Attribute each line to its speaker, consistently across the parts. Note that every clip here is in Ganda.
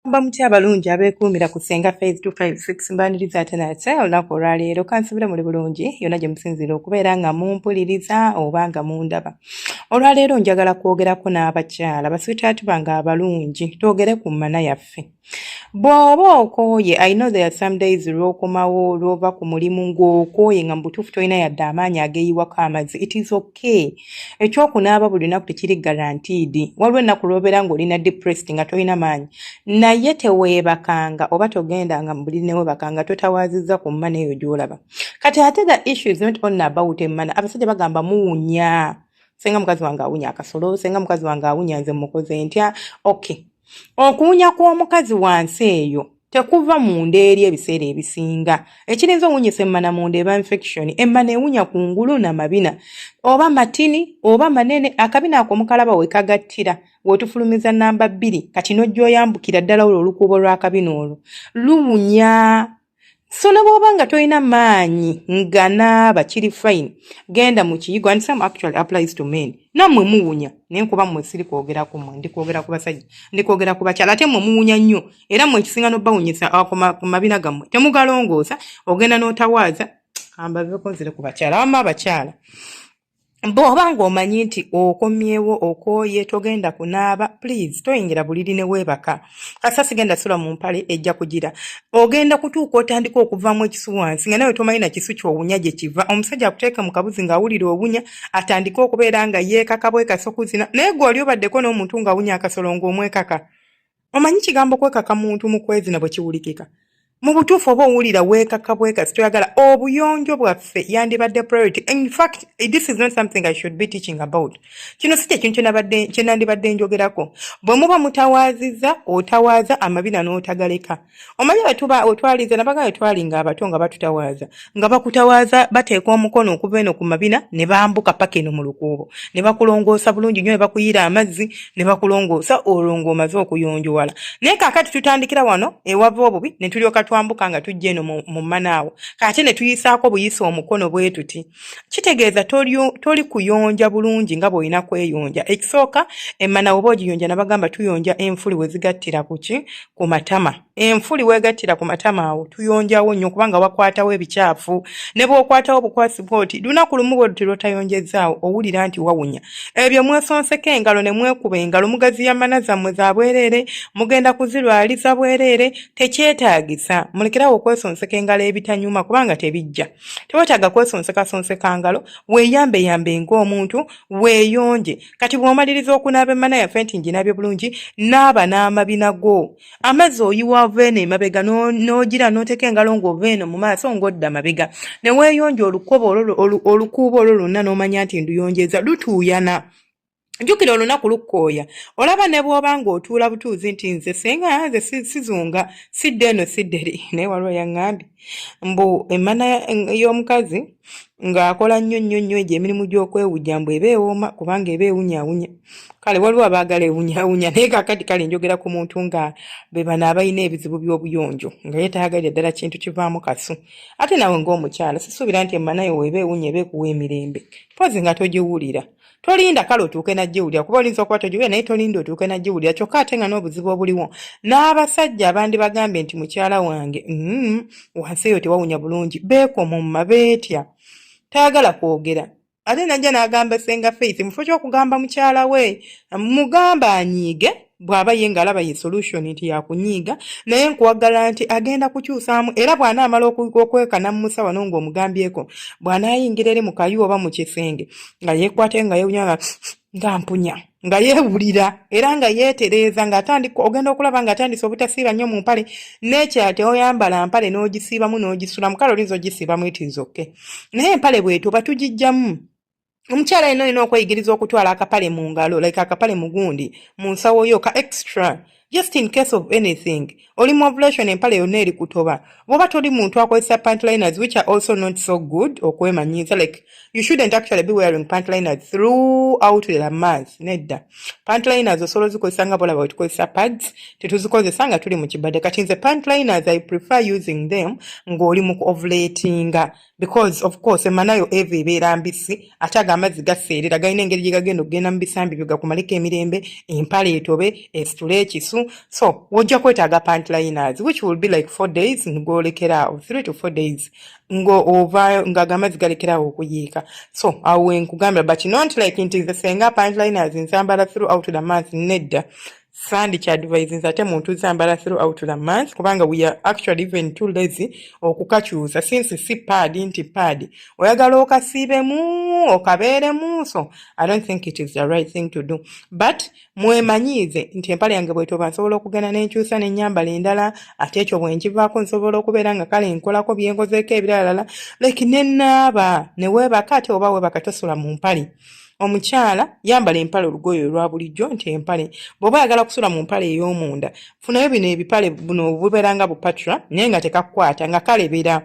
Speaker 1: mba mutya abalungi abeekuumira ku senga faz 256 mbaniriza ate nate olunaku olwaleero kansubire muli bulungi yonna gye musinziira okubeera nga mumpuliriza oba nga mundaba olwaleero njagala kwogerako n'abakyala baswitaati bange abalungi twogere ku mmana yaffe bw'oba okooye i know there are some days lw'okomawo lw'ova ku mulimu ng'okooye nga mu butuufu tolina yadde amaanyi ageeyiwako amazzi it is okay ekyokunaaba buli lunaku tekiri garantiidi waliwo ennaku lw'obeera ng'olina depressed nga tolina maanyi naye teweebakanga oba togendanga mu buli newebakanga totawaazizza ku mmana eyo gy'olaba kati ate the issue is not only about emmana abasajja bagamba muwunya senga mukazi wange awunya akasolo senga mukazi wange awunya nze mukoze ntya okay Okuwunya kw'omukazi wansi eyo tekuva munda eri ebiseera ebisinga ekirinza owunyisa emmana munda eba infection emmana ewunya ku ngulu na mabina oba matini oba manene akabina ako mukalaba wekagattira wetufulumiza namba bbiri kati nojja oyambukira ddala olwo olukuubo lw'akabina olwo luwunya so ne bwoba nga tolina maanyi nga naaba kiri fine genda mu kiyigo and some actually applies to men nammwe muwunya naye nkuba mmwe siri kwogera ku mwe ndi kwogera ku basajja ndi kwogera ku bakyala ate mmwe muwunya nnyo era mmwe ekisinga n'obawunyisa ah, ku mabina gammwe temugalongoosa ogenda n'otawaaza ambaveko nzire ku bakyala wamma abakyala bw'oba ng'omanyi nti okomyewo okooye togenda kunaaba please toyingira buliri ne weebaka kasa sigenda sula mu mpale ejja kugira ogenda kutuuka otandika okuvaamu ekisu wansi nga nawe tomanyi na kisu ky'owunya gye kiva omusajja akuteeke mu kabuzi ng'awulira owunya atandike okubeera nga yeekaka bwekasa okuzina naye gwe oli obaddeko n'omuntu ng'awunya akasolo ng'omwekaka omanyi kigambo kwekaka muntu mukwezina bwekiwulikika mubutuufu oba owulira weekaka bwekasi toyagala obuyonjo bwaffe yandibadde priority infact this is not something i should be teaching about kino si kyekintu kyenandibadde njogerako bwe muba mutawaaziza otawaaza amabina n'otagaleka omanyi wetuba wetwalize nabaga wetwali nga abato nga batutawaaza nga bakutawaaza bateeka omukono okuva eno ku mabina ne bambuka paka eno mu lukuubo ne bakulongoosa bulungi nyo ne bakuyiira amazzi ne bakulongoosa olwo ng'omaze okuyonjowala naye kakati tutandikira wano ewava obubi ne tulyoka twambuka nga tujja eno mu manaawo kate ne tuyisaako buyisa omukono bwetuti kitegeeza toli kuyonja bulungi nga bw'olina kweyonja ekisooka emmana woba ogiyonja nabagamba tuyonja enfuli wezigattira kuki ku matama enfuli wegattira ku matama awo tuyonjawo nnyo kubanga wakwatawo ebikyafu ne bwokwatawo obukwasi bwoti lunaku lumu bwe luti lwotayonjezzaawo owulira nti wawunya ebyo mwesonseko engalo ne mwekuba engalo mugaziya mana zammwe za bwereere mugenda kuzirwaliza bwereere tekyetaagisa mulekerawo okwesonseka engalo ebitanyuma kubanga tebijja tewetaaga kwesonsekasonseka ngalo weeyambeyambe ng'omuntu weeyonje kati bw'omaliriza okunaaba emmana yaffe nti nginaabye bulungi naaba n'amabina go amazzi oyiwa ova eno emabega n'ogira n'oteeka engalo ng'ova eno mu maaso ng'odda mabega ne weeyonja olukuubo olwo lwonna n'omanya nti nduyonjeza lutuuyana jjukira olunaku lukkooya olaba ne bw'oba ng'otuula butuuzi nti nze senga nze sizunga sidde eno sidde ri naye waliwo yaŋŋambi mbu emmana y'omukazi ng'akola nnyo nnyo nnyo egyo emirimu gy'okwewujja mbu eba ewooma kubanga eba ewunyawunya kale waliwo abaagala ewunyawunya naye kakati kale njogera ku muntu nga be bano abalina ebizibu by'obuyonjo nga ye tayagalira ddala kintu kivaamu kasu ate nawe ng'omukyala sisuubira nti emmana yo weeba ewunya eba ekuwa emirembe mpozi nga togiwulira tolinda kale otuuke nagiwulira kuba olinza okuba togiwulira naye tolinda otuuke nagiwulira kyokka ate nga n'obuzibu obuliwo n'abasajja abandibagambye nti mukyala wange mm, wansi eyo tewawunya bulungi beekomomma beetya tayagala kwogera ate najja n'agamba senga faith mufo ky'okugamba mukyala we mugamba anyiige bw'aba ye ng'alaba ye solution nti yakunyiiga naye nkuwagala nti agenda kukyusaamu era bw'anaamala okweka n'amumusa wano ng'omugambyeko bw'anaayingira eri mu kayu oba mu kisenge nga yeekwate nga yewunya nga mpunya nga yeewulira era nga yeetereeza ng'atandika ogenda okulaba ng'atandise obutasiiba nnyo mu mpale n'ekyate oyambala mpale n'ogisiibamu n'ogisulamu kale olinza ogisiibamu itiizokke naye empale bwetu oba tugijjamu omukyala yena olina okweyigiriza okutwala akapale mu ngalo like akapale mugundi mu nsawo yo ka extra just in case of anything oli mu ovulation empale yonna eri kutoba bwoba toli muntu akozesa pantliners which are also not so good okwemanyiiza like you shouldn't actually be wearing pantliners throughout the month nedda pantliners osobola ozikozesa nga bolaba wetukozesa pads tetuzikozesa nga tuli mu kibadde kati nze pantliners i prefer using them ng'oli mu ovulatinga because of course emanayo eva ebeera mbisi ate ago amazzi gaseerera galina engeri gye gagenda okugenda mu bisambi byo gakumaleko emirembe empale etobe esitule ekisu so wojja kwetaaga pantliners which will be like four days ngoolekeraawo three to four days ng'ova nga ago amazzi galekeraawo okuyiika so awo wenkugambira but not like nti nze senga pantliners nzambala throughout the month nedda sandi kyadvisinze ate muntu zambala through out the month kubanga we are actually even too lazy okukakyusa since si pad nti pad oyagala okasiibemu okabeeremu so i don't think it is the right thing to do but mwemanyiize nti empale yange bwetoba nsobola okugenda nenkyusa nenyambala endala ate ekyo bwenkivaako nsobola okubeera nga kale nkolako byenkozeeko ebiralala like nenaaba newebaka ate oba webaka tosula mu mpale omukyala yambala empale olugoye olwa bulijjo nti empale bw'oba oyagala kusula mu mpale ey'omunda funayo bino ebipale buno bubeera nga bupatra naye nga tekakukwata nga kalebera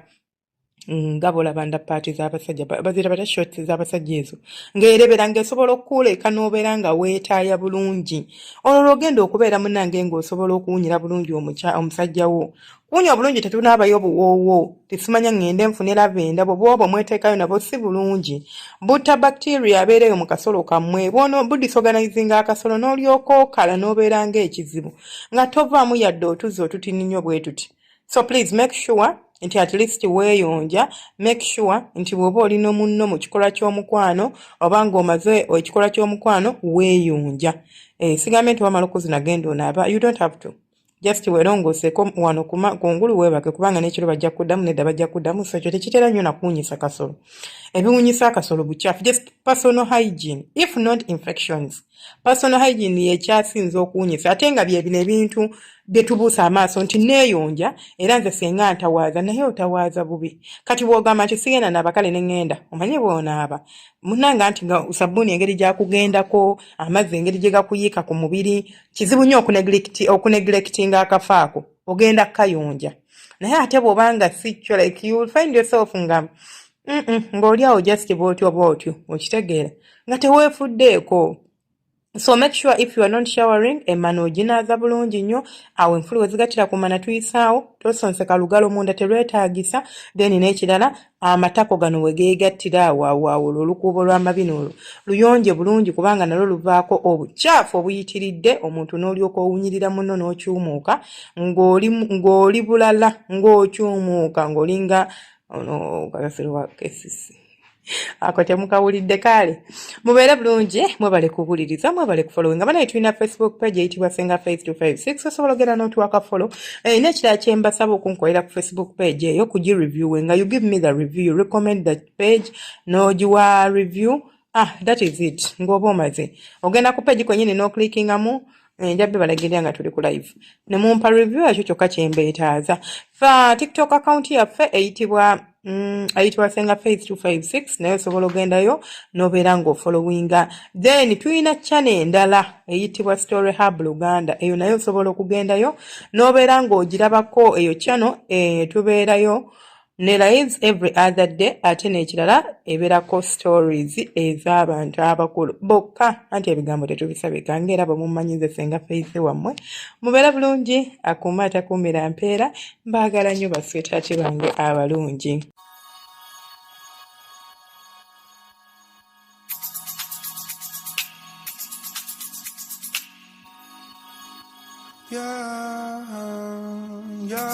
Speaker 1: nga bolaba nda paati z'abasajja bazira bata shorts z'abasajja ezo ng'erebera ng'esobola okukuleeka n'obeera nga weetaaya bulungi olwo lw'ogenda okubeera munange ng'osobola okuwunyira bulungi omusajja wo Wunya obulungi tetunaabayo obuwoowo tesimanya ŋŋende nfune lavenda bwe bwoba omwetekayo nabwo si bulungi butta bacteria abeera eyo mu kasolo kammwe bwono budisorganizinga akasolo n'olyoka okala n'obeera ng'ekizibu nga tovaamu yadde otuzzi otutini nnyo bwe tuti so please make sure nti at least weeyonja make sure nti bw'oba oli no munno mu kikolwa ky'omukwano oba ng'omaze ekikolwa ky'omukwano weeyonja eh, sigambye nti wamala okuzina genda onaaba you don't have to just welongooseko wano kungulu weebake kubanga n'ekiro bajja kuddamu nedda bajja kuddamu so ekyo tekitera nnyo nakuwunyisa kasolo ebiwunyisa akasolo bukyafu just personal hygiene if not infections personal hygiene yekyasinza okuwunyisa ate nga byebino ebintu byetubuusa amaaso nti neeyonja era nze senga ntawaaza naye otawaaza bubi kati bwogamba nti sigenda naaba kale neŋŋenda omanye bwonaaba munanga nti nga sabbuuni engeri gyakugendako amazzi engeri gye gakuyiika ku mubiri kizibu nnyo okunegilekitinga akafa ako ogenda kayonja naye ate bwoba nga sikyo like you will find yourself nga ng'oli awo just bwotyo bwotyo okitegeera nga teweefuddeeko so make sure if you are not showering emana oginaaza bulungi nnyo awo enfulu wezigatira ku mana tuyisaawo tosonseka lugalo munda terwetaagisa then n'ekirala amatako gano we geegattira awawaawula olukuubo lw'amabina olwo luyonje bulungi kubanga nalwo luvaako obucaafu obuyitiridde omuntu n'olyoka owunyirira muno n'okyumuuka ng'oli bulala ng'okyumuuka ng'olinga ono kafeero wa kesisi ako temukawulidde kaale mubeere bulungi mwebale kuwuliriza mwebale kufolowe nga banaye tulina facebook page eyitibwa senga face to five six osobola ogenda notuwaka folo eh, nekirala kyembasaba okunkolera ku facebook page eyo kugireviewe nga you give me the review you recommend that page nogiwa review ah that is it ngaoba omaze ogenda ku page kwenyini noclickingamu Eh, nja bibalagira nga tuli ku live ne mumpa review yakyo kyokka kyembeetaaza fa tiktok account yaffe eyitibwa Mm, ayitibwa senga faith 256 naye osobola ogendayo nobeera ngaofollowinga then tulina chane endala eyitibwa story hub luganda eyo naye osobola okugendayo nobeera ngaogirabako eyo chano e, eh, tubeerayo nelayis every other day ate nekirala eberako stories ezabantu abakulu bokka anti ebigambo tetubisabika ngaera bwemumanyize senga feithi wammwe mubeera bulungi akuuma atakuumira mpeera mbaagala nnyo baswetati bange abalungi
Speaker 2: yeah, yeah.